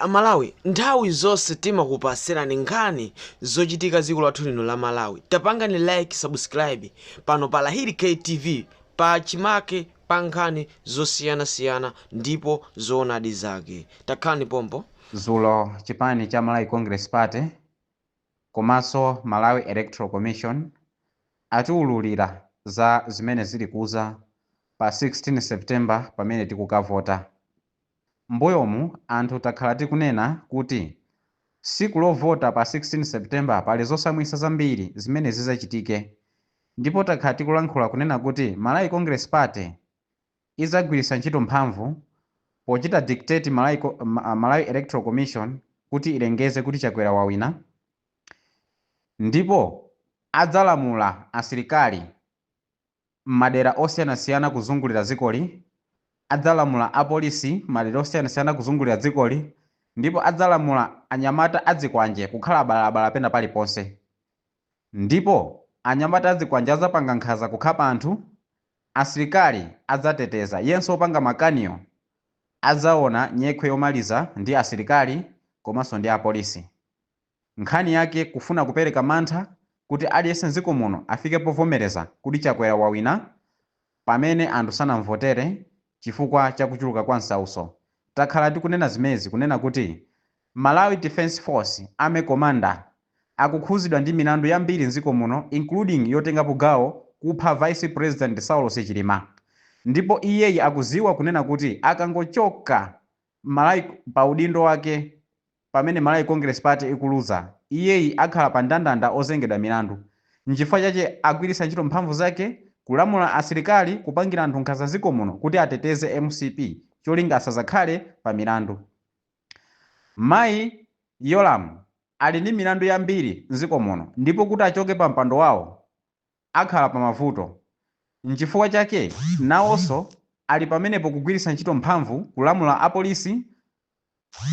Amalawi nthawi zonse timakupasirani nkhani zochitika ziko lathu lino la Malawi tapangani like subscribe pano pa Lahiri K TV pa chimake pa nkhani zosiyana siyana ndipo zoonadi zake takhalani pompo. Zulo chipani cha Malawi Congress Party komaso Malawi Electoral Commission atiululira za zimene zili kuza pa 16 September pamene tikukavota. Mmbuyomu anthu takhala tikunena kuti siku lovota pa 16 September pali zotsamwitsa zambiri zimene zizachitike ndipo takhala tikulankhula kunena kuti Malawi Congress Party izagwirisa ntchito mphamvu pochita dictate Malawi Electoral Commission kuti ilengeze kuti Chakwera wawina ndipo adzalamula asilikali m'madera osiyanasiyana kuzungulira dzikoli, adzalamula apolisi m'madera osiyanasiyana kuzungulira dzikoli, ndipo adzalamula anyamata azikwanje kukhala abalala-abalala pena paliponse. Ndipo anyamata azikwanje adzapanga nkhanza kukhapa anthu, asilikali adzateteza, yense wopanga makaniyo adzaona nyekhwe yomaliza ndi asilikali komanso ndi apolisi. Nkhani yake kufuna kupereka mantha kuti aliyense mdziko muno afike povomereza kuti Chakwera wawina pamene anthu sanamvotere chifukwa cha kuchuluka kwa msautso. Takhala tikunena zimenezi kunena kuti Malawi Defense Force, Army Commander, akukhuzidwa ndi milandu yambiri mdziko muno including yotengapo gawo kupha Vice President Saulos Chilima ndipo iyeyi akudziwa kunena kuti akangochoka Malawi pa udindo wake pamene Malawi Congress Party ikuluza, iyeyi akhala pa ndandanda ozengedwa milandu. Nchifukwa chake agwiritsa ntchito mphamvu zake kulamula asilikali kupangira anthu nkhanza mziko muno kuti ateteze mcp cholinga asazakhale pa milandu. Mayi Yolamu ali ndi milandu yambiri mziko muno ndipo kuti achoke pa mpando wawo, akhala pa mavuto. Nchifukwa chake nawonso ali pamenepo kugwiritsa ntchito mphamvu kulamula a polisi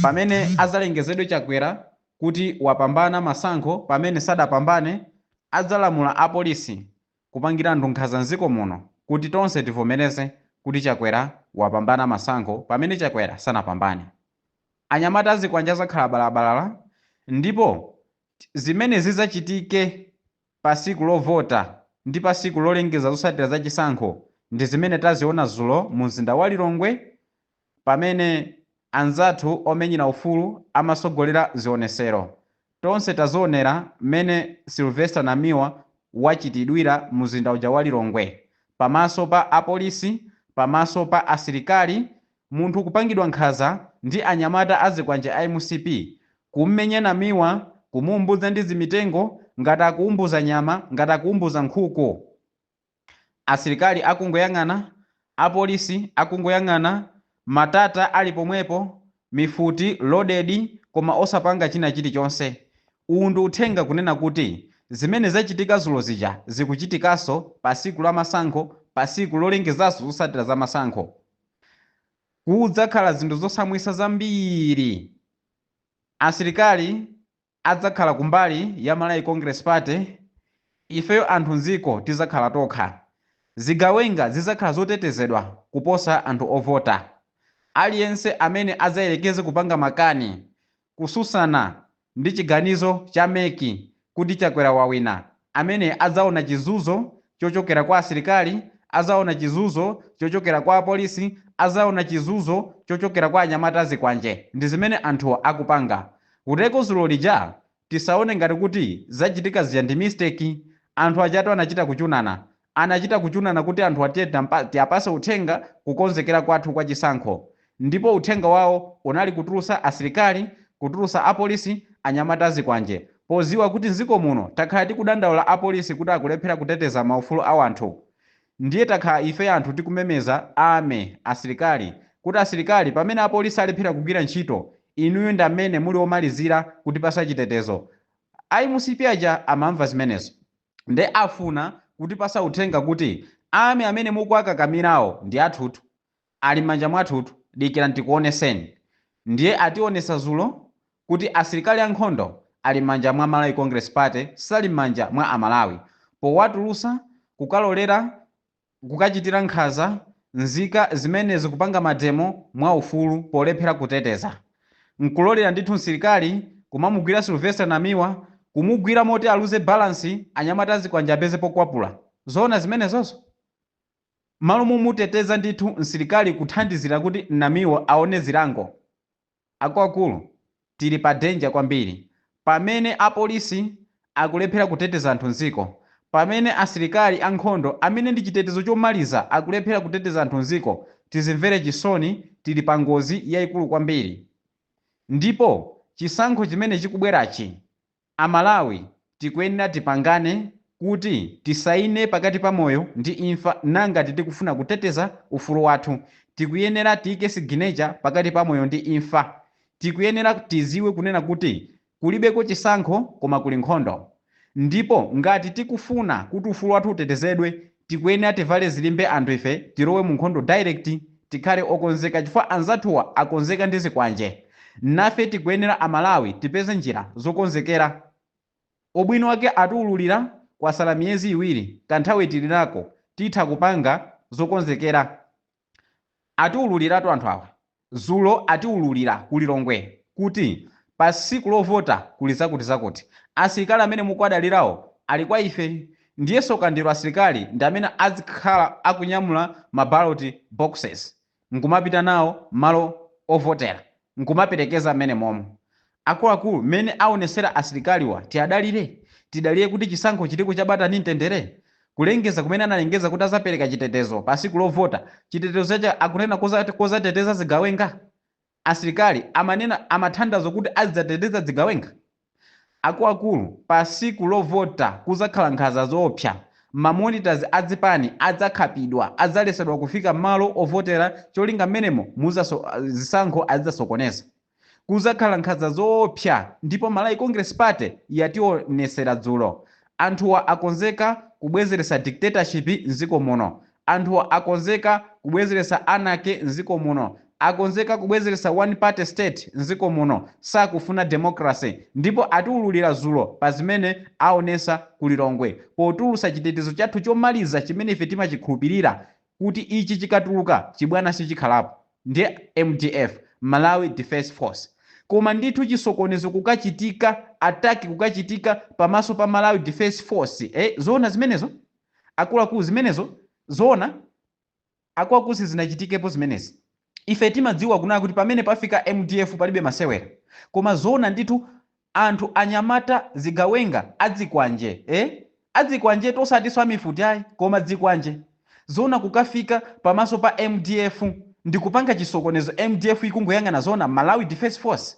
pamene azalengezedwe Chakwera kuti wapambana masankho pamene sadapambane adzalamula a polisi kupangira anthu nkhanza mziko muno kuti tonse tivomereze kuti Chakwera wapambana masankho pamene Chakwera sanapambane. Anyamata azikwanje azakhala balabalala ndipo zimene zizachitike. pa siku lovota ndi pa siku lolengeza zosatira za chisankho ndi zimene taziona zulo mu mzinda wa Lilongwe pamene anzathu omenyera ufulu amasogolera zionesero. Tonse tazionera mmene Sylvester Namiwa wachitidwira mu mzinda uja wa Lilongwe pamaso pa apolisi, pamaso pa asilikali Munthu kupangidwa nkhaza ndi anyamata azikwanje a MCP, kummenya Namiwa, kumuumbudza ndi zimitengo ngati akuumbudza nyama, ngati akuumbudza nkhuku. Asilikali akungoyang'ana, apolisi akungoyang'ana, matata ali pomwepo, mifuti loaded koma osapanga china chilichonse. Uwu ndi uthenga kunena kuti zimene zachitika zulo zija zikuchitikaso pasiku lamasankho, pasiku lolengezaso zosatira zamasankho. Kudzakhala zinthu zosamwisa zambiri. Asilikali adzakhala kumbali ya Malawi Congress Party, ifeyo anthu m'dziko tidzakhala tokha. Zigawenga zidzakhala zotetezedwa kuposa anthu ovota. Aliyense amene adzayerekeze kupanga makani Kususana ndi chiganizo cha MEC kuti Chakwera wawina, amene adzaona chizuzo chochokera kwa asilikali, azaona chizuzo chochokera kwa apolisi, azaona chizuzo chochokera kwa anyamata azikwanje, ndizimene anthuwa akupanga. Kuteko zulo lija tisaone ngati kuti zachitika zija ndi mistake, anthu ajatu anachita kuchunana, Anachita kuchunana kuti anthuwa tiye tiapa, tiapase uthenga kukonzekera kwathu kwa chisankho ndipo uthenga wawo unali kutulusa asilikali, kutulusa apolisi, anyamata azikwanje poziwa kuti nziko muno takhala tikudandaula apolisi kuti akulephera kuteteza maufulu awanthu ndiye takhala ifeyo anthu tikumemeza army, asilikali, kuti asilikali pamene apolisi alephera kugwira ntchito inuyo ndamene muli omalizira kutipasa chitetezo. A MCP aja amamva zimenezo. nde afuna kutipasa uthenga kuti army amene mukuwakakamirawo ndi athutu ali mmanja mwathutu dikirani tikuoneseni ndiye ationesa zulo kuti asilikali ankhondo ali mmanja mwa Malawi Congress Party sali mmanja mwa amalawi powatulusa kukalolera kukachitira nkhaza nzika zimene zikupanga mademo mwaufulu polephera kuteteza nkulolera ndithu nsilikali kumamugwira Sylvester Namiwa kumugwira moti aluze balance anyamata azikwanje apeze pokwapula zoona zimenezozo? Mmalo momuteteza ndithu nsilikali kuthandizira kuti Namiwa aone zilango Akuluakulu, tili pa danger kwambiri. Pamene apolisi akulephera kuteteza anthu m'dziko, pamene asilikali ankhondo amene ndi chitetezo chomaliza akulephera kuteteza anthu m'dziko, tizimvere chisoni, tili pa ngozi yaikulu kwambiri. Ndipo chisankho chimene chikubwerachi Amalawi tikuyenera tipangane kuti tisaine pakati pa moyo ndi imfa ngati tikufuna kuteteza ufulu wathu tikuyenera tiike siginecha pakati pa moyo ndi imfa tikuyenera tiziwe kunena kuti kulibeko chisankho koma kuli nkhondo ndipo ngati tikufuna kuti ufulu wathu utetezedwe Tikuyenera tivale zilimbe anthu ife tilowe mu nkhondo direct tikhale okonzeka chifukwa anzathuwa akonzeka ndi zikwanje nafe tikuyenera a Malawi tipeze njira zokonzekera ubwino wake atiululira kwasala miyezi iwiri kanthawi tilinako titha kupanga zokonzekera Atiululiratu anthu awa. Zulo atiululira ku Lilongwe kuti pa siku lovota kuli zakuti zakuti. Asilikali amene mukuwadalirawo ali kwa ife. Ndiye tsoka ndilo asilikali ndi amene adzikhala akunyamula ma ballot boxes nkumapita nawo mmalo ovotera nkumaperekeza mmenemomo. Akuluakulu mmene awonesera asilikaliwa tiadalire? Tidalire kuti chisankho chiliko cha bata ndi mtendere? Kulengeza kumene analengeza kuti azapereka chitetezo pa siku lovota, chitetezo chache akunena kuzateteza zigawenga? Asilikali amanena amathandauza kuti azidzateteza dzigawenga? Akuluakulu pa siku lovota kuzakhala nkhaza zoopsa, ma monitors a dzipani adzakhapidwa, adzalesedwa kufika mmalo ovotera cholinga mmenemo muzazo zisankho azidzasokoneza. Kuzakhala nkhaza zoopsa ndipo Malawi Congress Party yationesera dzulo. Anthuwa akonzeka kubwezeretsa dictatorship m'dziko muno. Anthuwa akonzeka kubwezeretsa anarchy m'dziko muno. Akonzeka kubwezeretsa one party state m'dziko muno. Sakufuna democracy ndipo atiululira dzulo pa zimene aonesa ku Lilongwe potulutsa chitetezo chathu chomaliza chimene ife timachikhulupirira kuti ichi chikatuluka chibwana sichikhalapo ndi mdf, Malawi Defence Force, koma ndithu chisokonezo kukachitika, attack kukachitika pamaso pa Malawi Defence Force ee zoona zimenezo? Akuluakulu zimenezo zoona? Akuluakulu sizinachitikepo zimenezi? Ife timadziwa kunena kuti pamene pafika mdf palibe masewera koma zoona ndithu anthu anyamata zigawenga adzikwanje ee adzikwanjetu osatinso amifuti ayi koma dzikwanje zoona kukafika pamaso pa mdf ndikupanga chisokonezo mdf ikungoyang'ana zoona Malawi defence force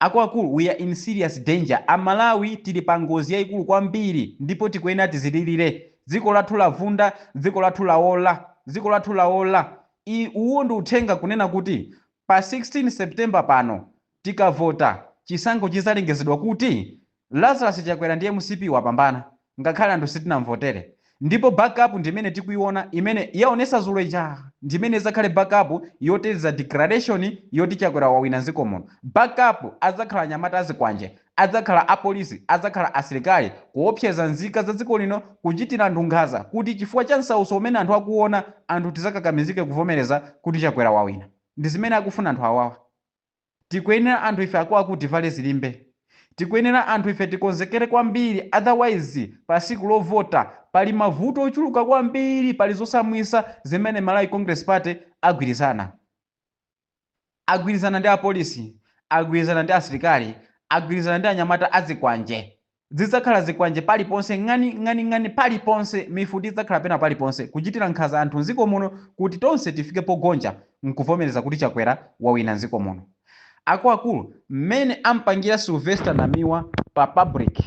Akuluakulu we are in serious danger, a Malawi tili pa ngozi yaikulu kwambiri ndipo tikuyenera tizililire. Dziko lathu lavunda, dziko lathu laola, dziko lathu laola. I, uwu ndi uthenga kunena kuti pa 16 September pano tikavota, chisankho chizalengezedwa kuti Lazarus Chakwera ndi mcp wapambana ngakhale anthu sitinamvotere ndipo back up ndimene tikuiona imene yaonesa zulo ija ndimene izakhale back up yoteteza declaration yoti Chakwera wawina nziko muno back up azakhala anyamata azikwanje adzakhala a police azakhala asilikali kuopseza nzika za dziko lino kuchitira anthu nkhaza kuti chifukwa cha nsautso umene anthu akuuona anthu tizakakamizike kuvomereza kuti Chakwera wawina ndizimene akufuna anthu awawa. Tikuyenera anthu ife akuakulu tivale zilimbe. Tikuyenera anthu ife tikonzekere kwambiri otherwise pa siku lovota pali mavuto ochuluka kwambiri pali zosamwisa zimene Malawi Congress Party agwirizana. Agwirizana ndi apolisi, agwirizana ndi asilikali, agwirizana ndi anyamata azikwanje. Zidzakhala zikwanje paliponse, ng'ani ng'ani ng'ani paliponse, mifuti idzakhala pena paliponse, kuchitira nkhanza anthu mziko muno kuti tonse tifike pogonja mkuvomereza kuti Chakwera wawina mziko muno. Akuakulu, mmene amupangira Sylvester Namiwa pa public,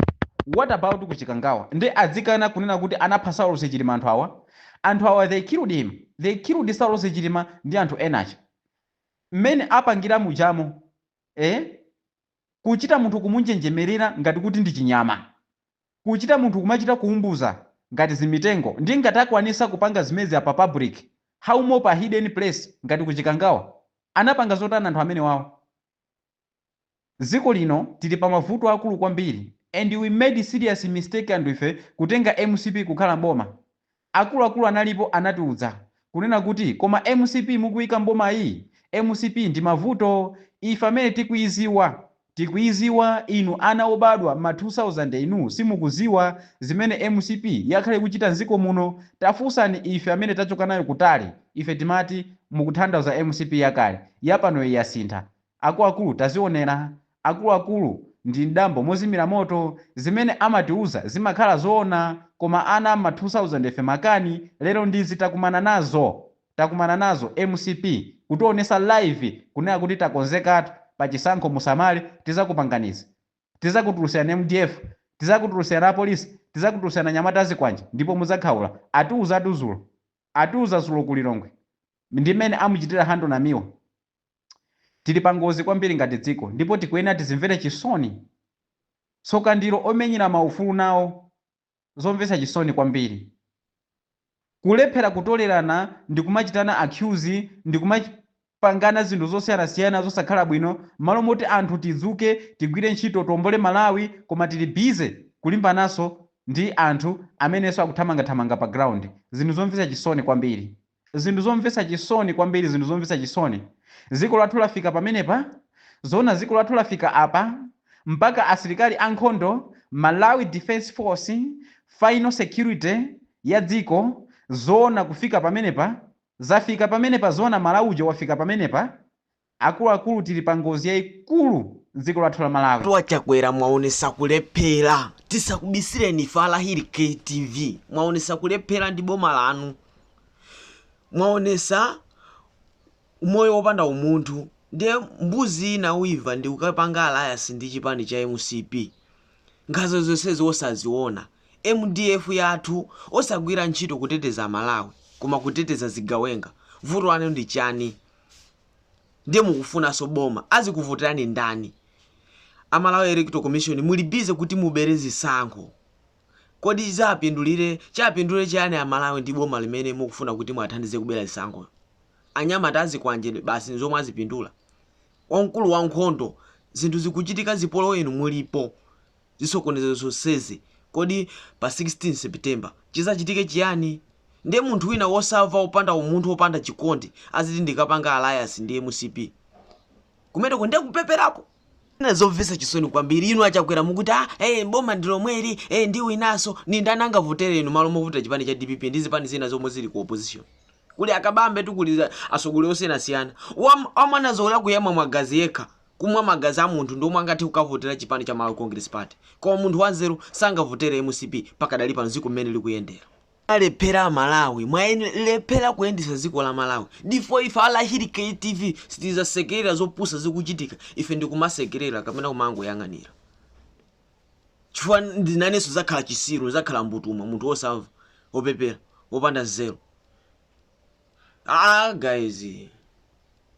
what about ku Chikangawa? Nde adzikana kunena kuti anapha Saulosi Chilima anthu awa? Anthu awa they killed him, they killed Saulosi Chilima ndi anthu ena aja. Mmene apangira mujamo eeh? Kuchita munthu kumunjenjemerera ngati kuti ndi chinyama. Kuchita munthu kumachita kuumbuza ngati zimitengo. Nde ngati akwanisa kupanga zimenezi pa public how more pa hidden place ngati ku Chikangawa? Anapanga zotani anthu amenewawa? Dziko lino tili pa mavuto aakulu kwambiri and we made serious mistake anthu ife kutenga mcp kukhala mboma. Akuluakulu analipo anatiuza, kunena kuti koma mcp mukuika m'bomayi? Mcp ndi mavuto, ife amene tikuiziwa tikuiziwa inu ana obadwa mma 2000 inu simukuziwa zimene mcp yakhala ikuchita nziko muno, tafunsani ife amene tachoka nayo kutali, ife timati mukuthandauza mcp yakale, yapanoyi yasintha, Akuluakulu tazionera, akuluakulu ndi mdambo mozimira moto zimene amatiuza zimakhala zoona koma ana mma 2000 ife makani lero ndiizi takumana nazo takumana nazo mcp kutionesa live kunena kuti takonzekatu pachisankho musamale tizakupangani izi tizakutulusiani mdf tizakutulusiani apolisi tizakutulusiani anyamata azikwanje ndipo mudzakhaula atiuzatu zulo atiuza zulo ku Lilongwe ndi mmene amuchitira handle Namiwa Tili pangozi kwambiri ngati dziko ndipo tikuyenera tizimvere chisoni. Tsoka ndilo omenyera maufulu nawo. Zomvetsa chisoni kwambiri. Kulephera kutolerana ndikumachitana accuse ndikumapangana zinthu zosiyanasiyana zosakhala bwino mmalo moti anthu tidzuke tigwire ntchito tiombole Malawi koma tili busy kulimbananso ndi anthu amenenso akuthamangathamanga pa ground. Zinthu zomvetsa chisoni kwambiri. Zinthu zomvetsa chisoni kwambiri, zinthu zomvetsa chisoni. Dziko lathu lafika pamenepa? Zoona dziko lathu lafika apa? Mpaka asilikali a nkhondo, Malawi Defense Force, final security ya dziko? Zoona kufika pamenepa? Zafika pamenepa zoona Malawi uja wafika pamenepa? Akuluakulu tili pa ngozi yaikulu mdziko lathu la Malawi. Wa chakwera mwaonesa kulephera tisakubisireni ife a Hakili TV mwaonesa kulephera ndi boma lanu mwaonesa umoyo opanda umunthu nde mbuzi ina yosamva ndi kukapanga alliance ndi chipani cha mcp nkhaza zonsezi osaziona mdf yathu osagwira ntchito kuteteza amalawi koma kuteteza zigawenga vuto lanu ndi chani ndiye mukufunaso boma azikuvoterani ndani a malawi electoral commission muli busy kuti mubere zisankho kodi chizapindulire azapindulire chiyani a malawi ndi boma limene mukufuna kuti mulithandize kubera zisankho anyamata azikwanje basi nzomwe azipindula wamkulu wa nkhondo zinthu zikuchitika zipolowe inu mulipo zisokonezero zonsezi, kodi pa 16 September chizachitike chiyani? Nde munthu wina wosava wopanda umunthu wopanda chikondi aziti ndikapanga alliance ndi mcp? Kumeneko nde kupeperapo? Zovesa chisoni kwambili inu achakwera mukuti a ee boma ndilomweli ee ndiwinaso nindani angavotere inu malo movotera chipani cha dpp ndi zipani zina zomwe zili ku opposition kuli akabambe tu kuli asogoleri osiyanasiyana wamwanazo zakuyamwa magazi yekha kumwa magazi a munthu ndi omwe angathe kukavotera chipani cha Malawi Congress Party koma munthu wanzeru sangavotere mcp pakadali pano dziko mmene likuyendera. mwalephera amalawi mwalephera kuyendetsa dziko la malawi ndipo ife alahiri ktv sitizasekerera zopusa zikuchitika ife ndikumasekerera kapena kumangoyang'anira chifukwa nanenso zakhala chisiru zakhala mbutuma munthu wosamva wopepera wopanda nzeru ah guys